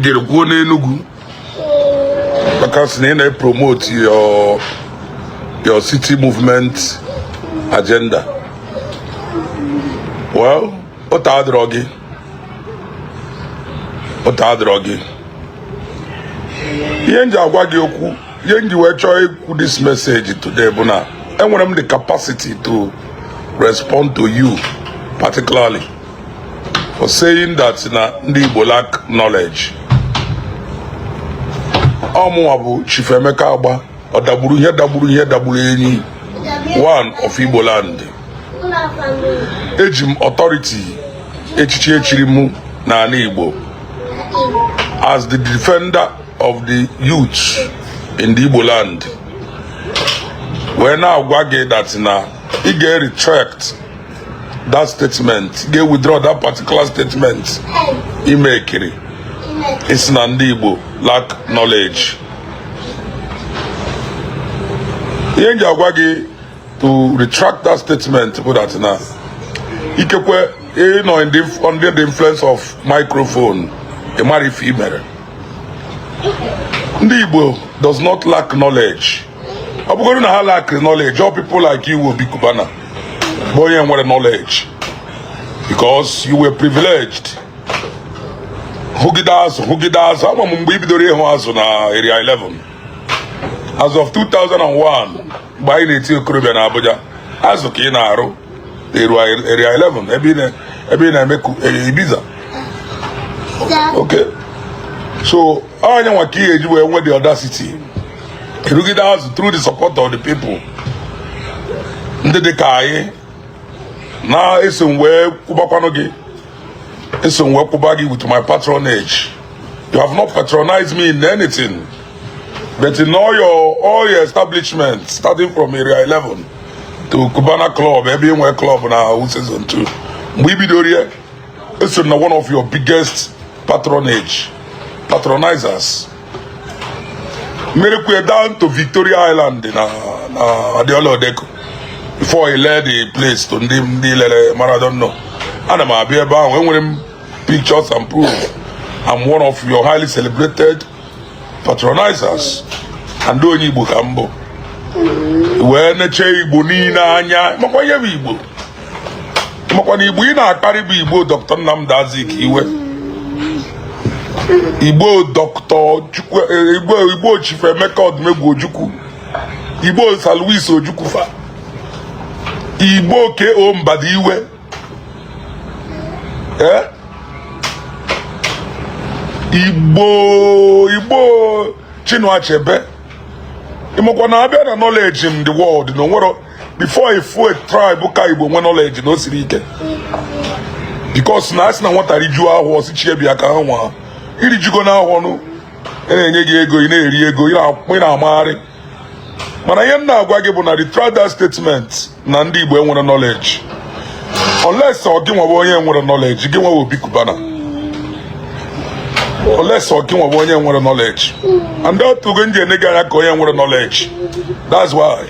gere kwuo n'Enugu because na ị na-epromoti your your city movement agenda well ụta adịrọ gị ụta adịrọ gị ihe m ji agwa gị okwu ihe m ji wee chọọ ikwu this message today bụ na enwere m the capacity to respond to you particularly for saying that na ndị Igbo lack knowledge ọ mụnwa bụ Chief Emeka Agba ọ dagburu ihe dagburu ihe dagburu enyi one of Igbo land eji m authority echichi e chiri m n'anị Igbo as the defender of the youth in the Igbo land wee na-agwa gị that na ị ga-eretract that statement ga withdraw that particular statement i mekiri ị sị na ndị Igbo lack knowledge ihe m ji agwa gị to retract that statement bụ that na ikekwe ị nọ under the influence of microphone ị marọ ife i mere ndị Igbo does not lack knowledge ọ bụgoro na ha lakịrị knowledge ọ people like you Obi Cubana bụ onye nwere knowledge because you were privileged hụgide azụ hụgide azụ ama m mgbe i bidoro ịhụ azụ na area 11 as of 2001 mgbe anyị na-eti okorobịa na Abuja azụ ka ị na-arụ eru area 11 ebe ị na-eme eh, Ibiza okay so onye nwa ka i ji wee nwee the audacity erugide azụ through the support of the people ndị dị ka anyị na eso m wee kwụbakwanụ gị eso m wee kwụba gị with my patronage you have not patronized me in anything but in all your all your establishment starting from area 11 to Cubana club ebe i nwe club na Wuse zone 2 mgbe i bidoro ya eso m na one of your biggest patronage patronizers merekwe down to Victoria Island na na Adeola Odeku before i lee the place to ndị ndị lere Maradona no ana m abịa ebe ahụ enwere m pictures and proof I'm one of your highly celebrated patronizers and onye igbo ka m bụ wee nechaa igbo niine anya makwa ihe bụ igbo makwa na igbo ị na-akparị bụ igbo dr nnamdị azikiwe igbo dọkịta eh, igbo igbo chief emeka ọdụmegwu ojukwu igbo sir louis ojukwu fa igbo k o mbadiwe eh? Igbo Igbo Chinua Achebe ị makwa na a bịa na knowledge in the world na o nwere before a fụ tribe ka Igbo nwe knowledge na o siri ike because na a sị na nwata rijuo ahọ ọ sị chi ya bịa ka ha nwa i rijugo na ahọ ọnụ e na-enye gị ego i na-eri ego ị na-amagharị mana ihe m na-agwa gị bụ na retract that statement na ndị Igbo enwerọ knowledge unless ọ gị nwa bụ onye nwere knowledge gị nwa bụ Obi Cubana unless ọ gị nwa bụ onye nwere knowledge and ndị otu gị na-ene gị anya ka onye nwere knowledge that's why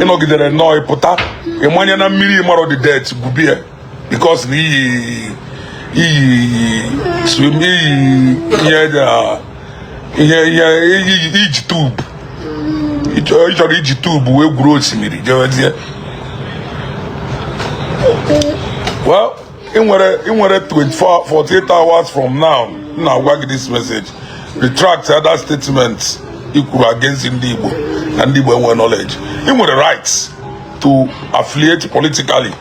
ị nọgidere nnọọ ị pụta ị manye na mmiri ị marọ the depth gwubie because na iyi iyi swim iyi ihe na ihe ihe iyi iji tube ị chọrọ iji tube wee gwuru osimiri jewezie well i nwere i nwere 24 48 hours from now m na-agwa gị this message retract all the statements i kwuru against ndị Igbo na ndị Igbo enwe knowledge i nwere rights to affiliate politically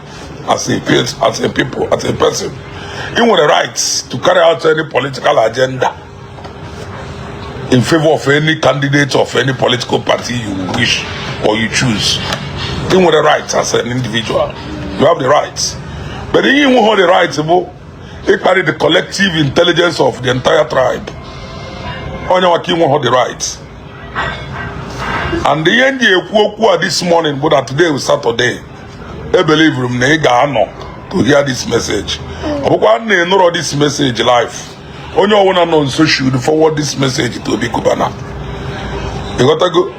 as a place as a people as a person i nwere rights to carry out any political agenda in favor of any candidate of any political party you wish or you choose i nwere rights as an individual you have the rights but ihe i nweghị the rights bụ ịkparị the collective intelligence of the entire tribe onye maka i nweghị the rights and ihe m ji ekwu okwu a this morning bụ that today is Saturday ebelivuru m na ị ga-anọ to hear this message ọ bụkwa na ị nụrọ this message live onye ọbụla nọ nso should forward this message to Obi Cubana ị ghọtago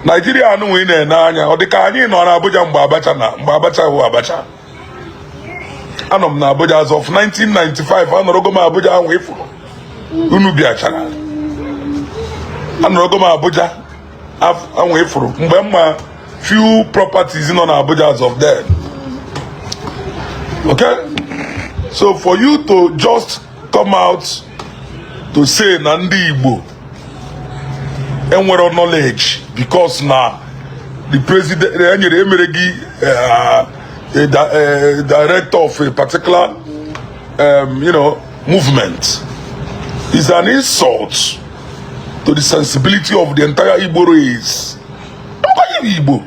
Naijiria a nụnwa ị na-ene anya ọ dịka anyị nọ na Abuja mgbe Abacha na mgbe Abacha wụ Abacha anọ m na Abuja as of 1995 anọrọgo m Abuja ahụ ị fụrụ unu bịachara anọrọgo m Abuja anwa ị fụrụ mgbe m ma few properties nọ na Abuja as of then okay so for you to just come out to say na ndị Igbo enwerọ knowledge because na the president e nyere e mere gị eh, eh, eh, director of a particular um, you know, movement is an insult to the sensibility of the entire Igbo race mkpanyere Igbo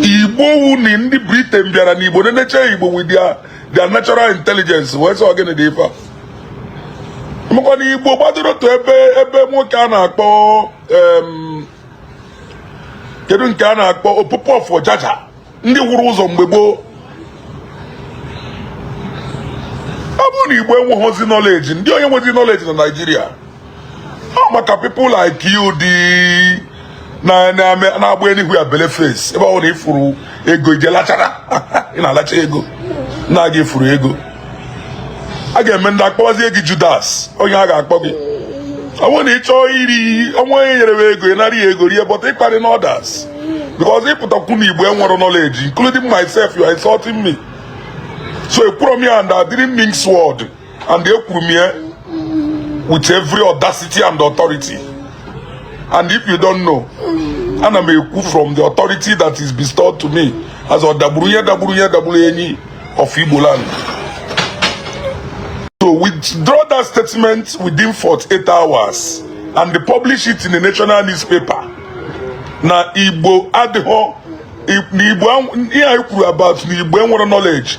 Igbo wụ na ndị Britain bịara n'Igbo nenechaa Igbo with their their natural intelligence wee sị ọ gịnị dị ife a mekwa na Igbo gbadoro otu ebe ebe nwoke a na-akpọ kedu nke a na-akpọ Opobo of Jaja ndị wuru ụzọ mgbe gboo ọ bụrụ na igbo enweghịzi knowledge ndị onye nwezi knowledge na naijiria ọ maka people like you ndị na-agba anywhere belle face ebe ọbụna ị fụrụ ego i je lachara ị na-alacha ego na-aga ị fụrụ ego a ga-eme ndị akpọwazie gị judas onye a ga-akpọ gị ọ bụrụ na ị chọọ iri ọnwa onye nyere gị ego ị nara ya ego rie but ịkparị na others because ị pụta kwuo na igbo enwerọ knowledge including myself you are insulting me so ekwuru m ya and I didn't mince word and ekwuru m ya with every audacity and authority and if you don't know ana m ekwu from the authority that is bestowed to me as ọdagburu ihe dagburu enyi of Igbo land so withdraw that statement within 48 hours and they publish it in the national newspaper na Igbo adịghọ na Igbo ihe a ị kwuru about na Igbo enwerọ knowledge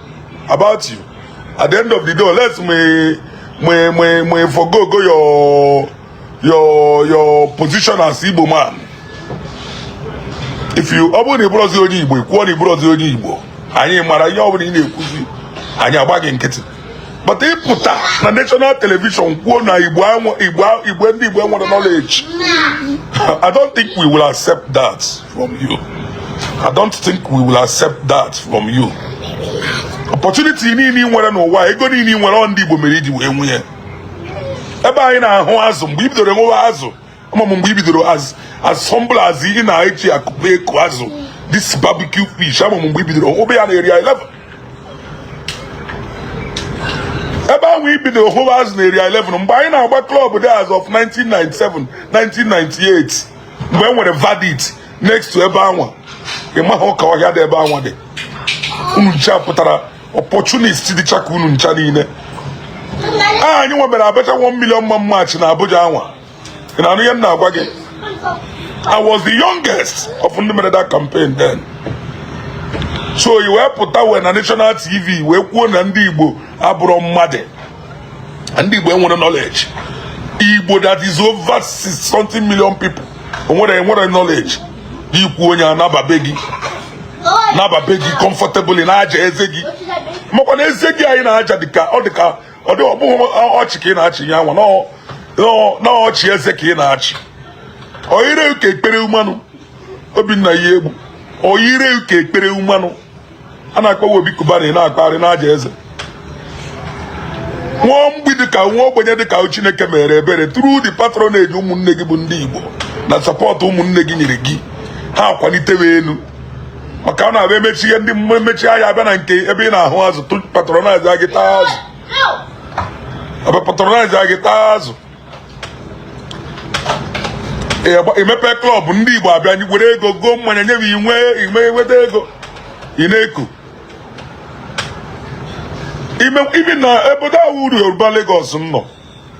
about you at the end of the day let me me me me forgo go your your your position as Igbo man if you ọ bụrụ na ị bụrọzi onye Igbo kwuo na ị bụrọzi onye Igbo anyị mara ihe ọ bụla ị na-ekwuzi anyị agba gị nkịtị but ị pụta na national television kwuo na Igbo ndị Igbo enwerọ knowledge I don't think we will accept that. from you. I don't think we will accept that from you. Opportunity niile ị nwere n'ụwa ego niile ị nwere ọ ndị Igbo mere i ji wee nwee ya ebe a ị na-ahụ azụ mgbe i bidoro enwewe azụ ama m mgbe i bidoro as as humble as ị na-eji akụkọ eku azụ this barbecue fish ama m mgbe i bidoro ọ ebe a na area 11 ebe ahụ i bidoro hụwa azụ na area 11 mgbe anyị na-agba club dị as of 1997 1998 mgbe e nwere verdict next to ebe anwa ị maghị ka ọhịa dị ebe anwa dị unu ncha pụtara opportunist dịcha ka unu ncha niile a anyị wee meere abacha 1 million man march na abuja anwa ị na-anụ ihe m na-agwa gị i was the youngest of ndị mere that campaign then so i wee pụta wee na national tv wee kwuo na ndị igbo abụrọ mmadụ ndị Igbo enwerọ knowledge Igbo that is over something million people enwerọ knowledge i kwuo ya naba be gị naba be gị comfortably na-aja eze gị makwa na eze gị a ị na-aja dịka ọ dịka ọ dị ọ bụghị ọchị ka ị na-achị nye anwa na ọchị eze ka ị na-achị oyire ka ekpere umanụ obinna iyiegbu oyire ka ekpere umanụ a na-akpọwa Obi Cubana ị na-akpagharị n'aja eze nwa mgbei dịka nwa ogbenye dịka chineke mere ebere through the patronage ụmụnne gị bụ ndị igbo na support ụmụnne gị nyere gị ha akwalitewe elu maka ọ na-abịa emechi ihe ndị Igbo emechi ahịa abịa na nke ebe ị na-ahụ azụ patronize gị taa azụ abịa patronize gị taa azụ imepe club ndị Igbo abịa were ego goo mmanya ị wee nweta ego ị na-eko even obodo ahụ uru Yoruba Lagos ị nọ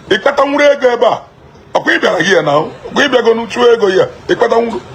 ịkpata nwuru ego ebe a ọkwa ịbịara ahịa na ọkwa ịbịago n'uchu ego ya ịkpata nwuru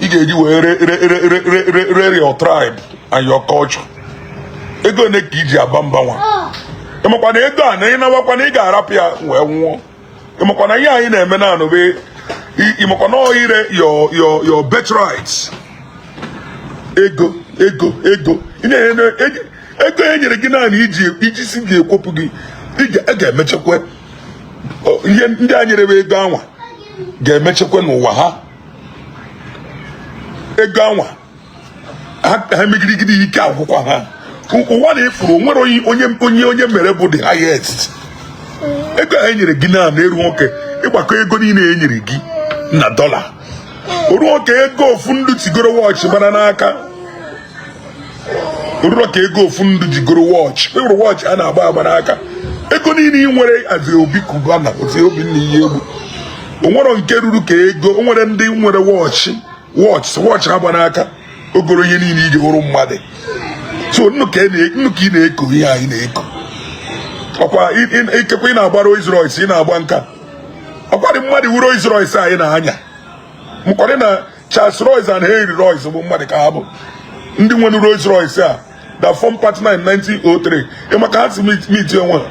ị ga-eji wee ree your tribe and your culture ego ole ka iji aba mba nwa ịmakwa na ego a na ị nawakwa na ị ga-arapụ ya wee nwụọ ịmakwa na ihe anyị na-eme na anụbe ịmakwa na i ree your birthright ego ego ego ego e nyere gị naanị iji iji si gị ekwopụ gị ị ga-emechekwa ihe ndị a nyere ego anwa ga-emechekwa n'ụwa ha ego anwa ha emegirigide ike agwụkwa ha ụwa na efuru onwere onye onye onye mere bụ the highest ego a enyere gị na eruro ka ịgbakọ ego niile enyere gị na dọla oruro ka ego ụfọdụ ji goro watch gbara n'aka oruro ka ego ụfọdụ ji goro watch wristwatch a na-agba agba n'aka ego niile ị nwere as Obi Cubana as Obinna Iyiegbu onwere nke ruru ka ego onwere ndị nwere watch watch watch a gba n'aka ogoro ihe niile iji wụrụ mmadụ so gịnị ka ị na-eko ihe a ị na-eko ọkwa ikekwe ị na-agbara Rolls Royce ị na-agba nke a ọkwadị mmadụ wuru Rolls Royce a ị na-anya ọkwadị na Charles Rolls and Henry Royce bụ mmadụ ka ha bụ ndị nwere Rolls Royce ha form partner in 1903 ịma ka ha si meet onwe ha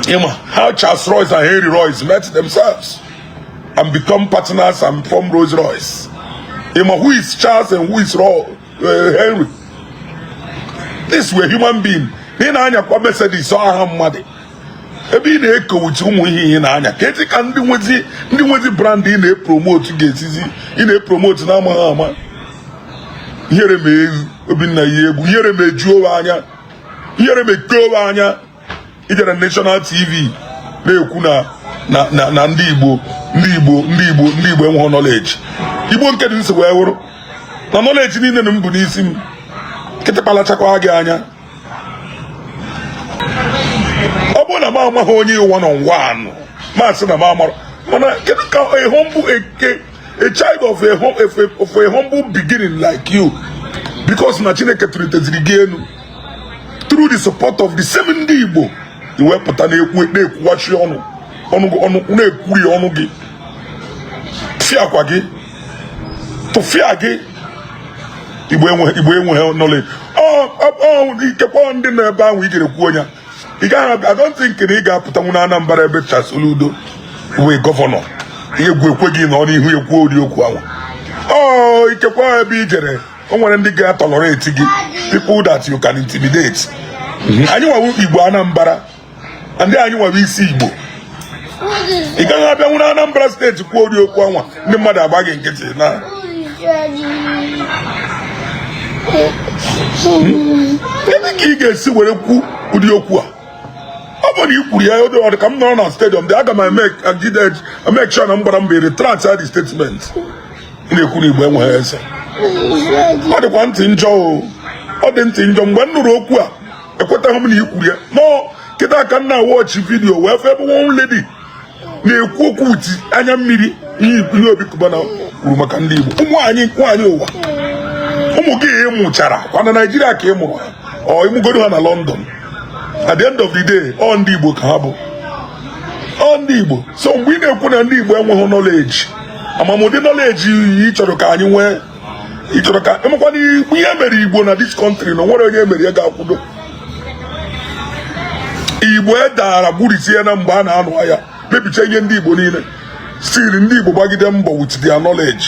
ịma how Charles Rolls and Henry Royce met themselves and become partners and form Rolls Royce ịma who is Charles and who is Roy, uh, Henry these were human being na ị na-anyakwa Mercedes ọ aha mmadụ ebe ị na-ekowuchi ụmụ ihe ihe na-anya kedụ ka ndị nwezi ndị nwezi brand ị na-epromote ga-esizi ị na-epromote na-amaghị ama ihere megbu Obinna Iyiegbu ihere mejuowe anya ihere mekeowe anya ijere national tv na-ekwu na na ndị igbo ndị igbo ndị igbo ndị igbo enweghị knowledge igbo nke dị nsogbu wee wụrụ na knowledge niile na m bu n'isi m kịtịkpa lachakwa gị anya ọ bụrụ na m amaghị onye ị wụ na nwa anụ masị na m amara mana kedu ka a humble eke a child of a, hum, of a, of a humble beginning like you because na chineke tụliteziri gị elu through the support of the same ndị igbo i wee pụta na-ekwu na-ekwuwachi ọnụ ọnụ ọnụ na-ekwuri ọnụ gị si akwa gị tụfịa gị igbo enweghị knowledge ikekwa ndị nọ ebe ahụ i jere kwuo ya ị gaghị I don't think na ị ga-apụtanwu na Anambra ebe Charles Soludo wụ gọvanọ egwu ekwe gị nọ n'ihu ekwu ụdị okwu ahụ ọ ikekwa ebe i jere o nwere ndị ga-atolerate gị people that you can intimidate anyị nwa wụ Igbo Anambra ndị anyị nwere isi igbo ị gaghị abịanwu na anambra state kwuo ụdị okwu anwa ndị mmadụ agba gị nkịtị na hmm? ebe ka ị ga-esi were kwu ụdị okwu a ọ bụ na i kwuru ya ọdọ ọ dị ka m nọrọ na stadium dị aga m emake sure na m gbara mbọ retract that statement na-ekwu na igbo enweghị eze ọ dịkwa ntị njọ o ọ dị ntị njọ mgbe m nụrụ okwu a ekwetaghị m na i kwuru ya ma kịta a ka m na-awatch video wee fụ ebe nwa lady na-ekwu okwu with anya mmiri ihe ihe obi kubana kwuru maka ndị Igbo ụmụ anyị nwaanyị ụwa ụmụ gị ị mụchara kwa na Naịjirịa ka ị mụrụ ha ọ ị mụgodu ha na London at the end of the day ọ ndị Igbo ka ha bụ ọ ndị Igbo so mgbe ị na-ekwu na ndị Igbo enweghị knowledge amaghị m ụdị knowledge ị chọrọ ka anyị nwee ị chọrọ ka emekwana igbu ihe mere igbo na this country na o nwere onye mere ya ga-akwudo igbo edara gburizie na mgbe a na-anụ aya mebicha ihe ndị igbo niile still ndị igbo gbagide mbọ with their knowledge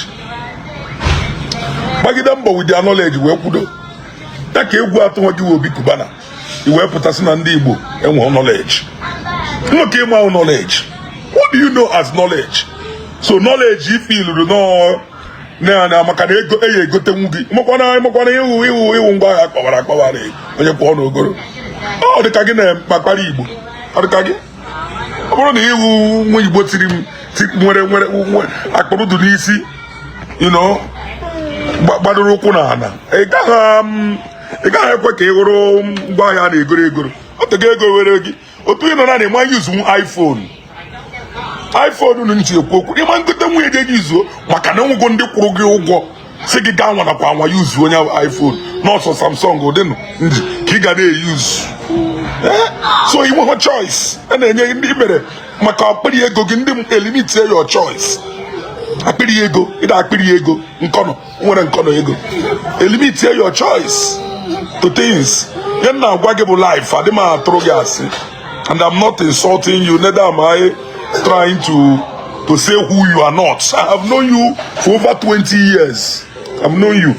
gbagide mbọ with their knowledge wee kwudo ya ka egwu atụ nwa gị obi kubana i wee pụta sị na ndị igbo enweghị knowledge nwoke ị ma knowledge what do you know as knowledge so knowledge ị feelụrụ na ọ na na maka na ego ya-egotenwu gị makwana makwana ị wụ ị wụ ị wụ ngwa ahịa a kpawara akpawa na onye kwụọ o goro ọ dịka gị na-akparị igbo ọ dịka gị ọ bụrụ na ị wụ nwa igbo tiri m nwere nwere akpụrụ dị n'isi gbadoro ụkwụ na ala ị gaghị ekwe ka ị wụrụ ngwa ahịa a na-egoro egoro ọ dịga ego were gị obi ị nọ na ị ma usenwu iPhone iPhone nụ m ji ekwu okwu ị ma egotenwu ya je gị useo maka na enwego ndị kwụrụ gị ụgwọ sị gị gị anwanakwa anwa use any iPhone na ọ sọ Samsung ụdị nụ m ji ka ị ga na-euse eh? so ị nweghị choice a na-enye ndị mere maka akpịrị ego gị ndị elimitie your choice akpịrị ego ịdọ akpịrị ego nkọnọ nwere nkọnọ ego elimitie your choice to things ihe m na-agwa gị bụ life adị m atụrụ gị asị and I'm not insulting you neither am I trying to to say who you are not I have known you for over 20 years I've known you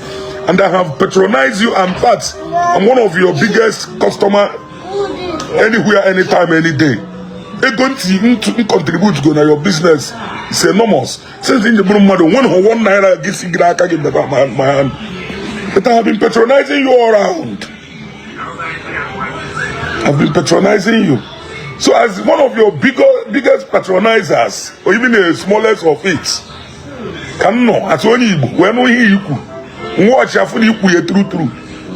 and I have patronized you and fact I'm one of your biggest customer anywhere anytime any day ego nke m contributego na your business is enormous since m ji bụrụ mmadụ o nwehụ one naira gị si jiri aka gị bebe ma ya but I have been patronizing you all around I've been patronizing you so as one of your bigger, biggest patronizers or even the smallest of it ka m nọ atụ onye Igbo wee nụ ihe i kwu nwa ọchị afụ na i kwu ya true true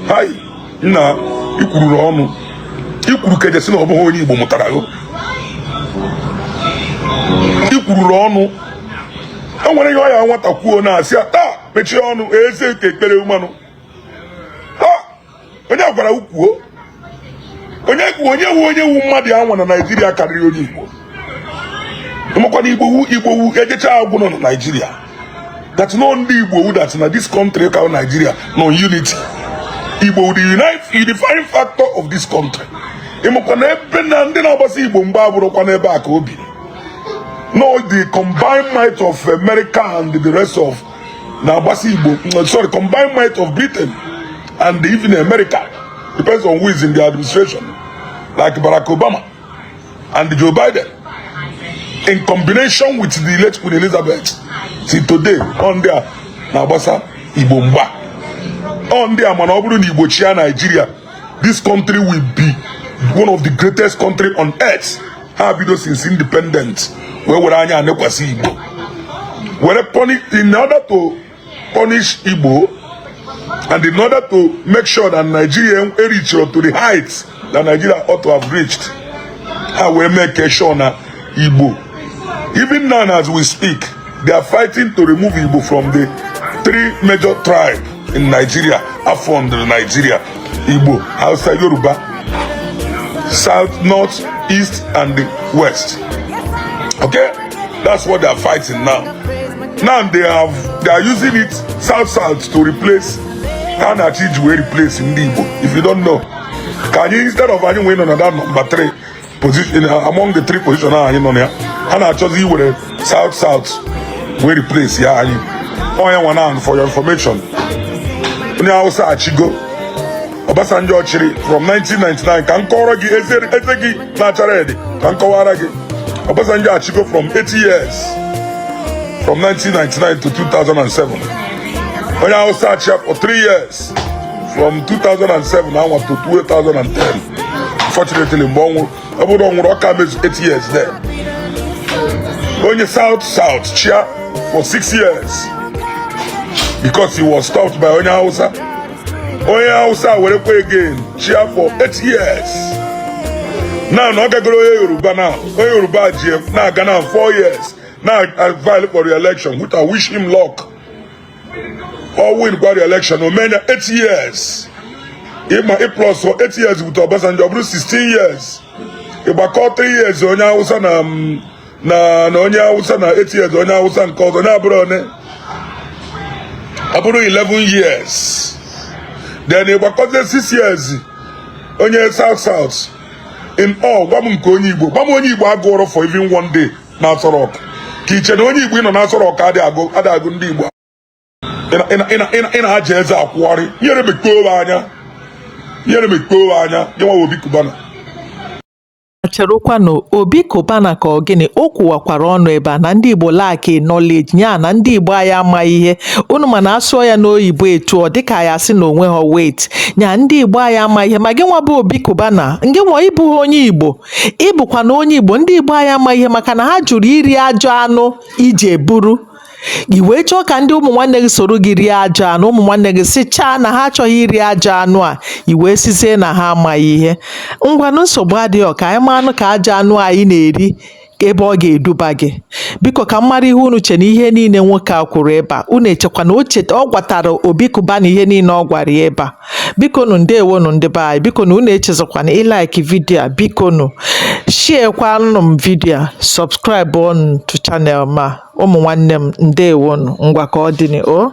hi nna i kwururu ọnụ i kwuru ka e je sị na ọ bụghị onye igbo mụtara gị i kwururu ọnụ o nwere ihe ọ ya nwata kwuo na-asị ya taa mechie ọnụ eze ka ekpere mmanụ onye gwara gị kwuo onye wu onye wu mmadụ a nwa na naijiria karịrị onye igbo makwa na igbo wu igbo wu ejecha agwụ nọ na naijiria that no ndị Igbo who that na this country called Nigeria no unity Igbo wu the unite the defining factor of this country ị makwa na ebe na ndị na-agbasa Igbo mgba abụrọkwa n'ebe a ka o biri no the combined might of America and the rest of na-agbasa Igbo mm, sorry combined might of Britain and even America depends on who is in the administration like Barack Obama and Joe Biden in combination with the late Queen Elizabeth till today ọ ndị a na-agbasa Igbo mgba ọ ndị a mana ọ bụrụ na Igbo chịa Nigeria this country will be one of the greatest country on earth ha bido since independent wee were anya anekwasị Igbo were punish in order to punish Igbo and in order to make sure that Nigeria reach to the heights that Nigeria ought to have reached ha wee make sure na Igbo even now as we speak they are fighting to remove Igbo from the three major tribes in Nigeria afọ ndụ Nigeria Igbo Hausa Yoruba South North East and the West okay that's what they are fighting now now they have they are using it south south to replace ha na-achọ iji wee replace ndị Igbo if you don't know ka anyị instead of anyị wee nọ na that number three position uh, among the three position ahụ anyị nọ na ya ha na-achọzi iwere south south wee replace ya anyị onye nwa na for your information onye Hausa achịgo Obasanjo chịrị from 1999 ka m kọọrọ gị eze gị na-achara edo ka m kọwara gị Obasanjo achịgo for 8 years from 1999 to 2007 onye Hausa achịa for 3 years from 2007 a nwa to 2010 fortunately mgbe ọ nwụrụ ọ bụrụ ọ nwụrọ ọ ka mezu 8 years then onye South South chịa for 6 years because he was stopped by onye Hausa onye hausa were kwa again chịa for 8 years na na ọ gagoro onye yoruba na onye yoruba ji na-aga na 4 years na avile for re-election which i wish him luck ọ win kwa re-election o mee ya 8 years ị ma ị plus for 8 years with obasanjo ọ bụrụ 16 years ị gbakọọ 3 years onye hausa na na na onye awụsa na 8 years onye awụsa nke ọzọ ya bụrụ one ọ bụrụ 11 years then ị gbakọta 6 years onye south south in all gwa m nke onye igbo gwa m onye igbo a gụọrọ for even one day na aso rock ka i che na onye igbo nọ na aso rock adị agụ adị agụ ndị igbo ị na-aja eze akwụgharị nyere mekpee anya nyere mekpee anya gị nwa obi cubana cherekwa na obi cubana ka ọ gịnị o kwuwakwara ọnụ ebe a na ndị igbo lack knowledge ya na ndị igbo anyị amaghị ihe unu ma na a sụọ ya n'oyibo etu ọ dịka ya sị na o nwehọ weight ya ndị igbo anyị amaghị ihe ma gị nwa bụ obi cubana ngị nwa ị bụghị onye igbo ị bụkwanụ onye igbo ndị igbo anyị amaghị ihe maka na ha jụrụ iri ajọ anụ i je buru i wee chọọ ka ndị ụmụ nwanne gị soro gị rie ajọ anụ ụmụ nwanne gị sịchaa na ha achọghị iri ajọ anụ a i wee sizie na ha amaghị ihe ngwanụ nsogbu adịghị ọ ka anyị manụ ka ajọ anụ a ị na-eri ebe ọ ga-eduba gị biko ka m mara ihe unu che na ihe niile nwoke a kwuru ebe a unu echekwa na ọ gwatara obi cubana ihe niile ọ gwara ya ebe a bikonu ndewonu ndị be anyị bikonu unu echezọkwana ịlike video a bikonu sharekwanụ m video a subscribe nụ to channel m a ụmụ nwanne m ndewonu ngwa ka ọ dịnị o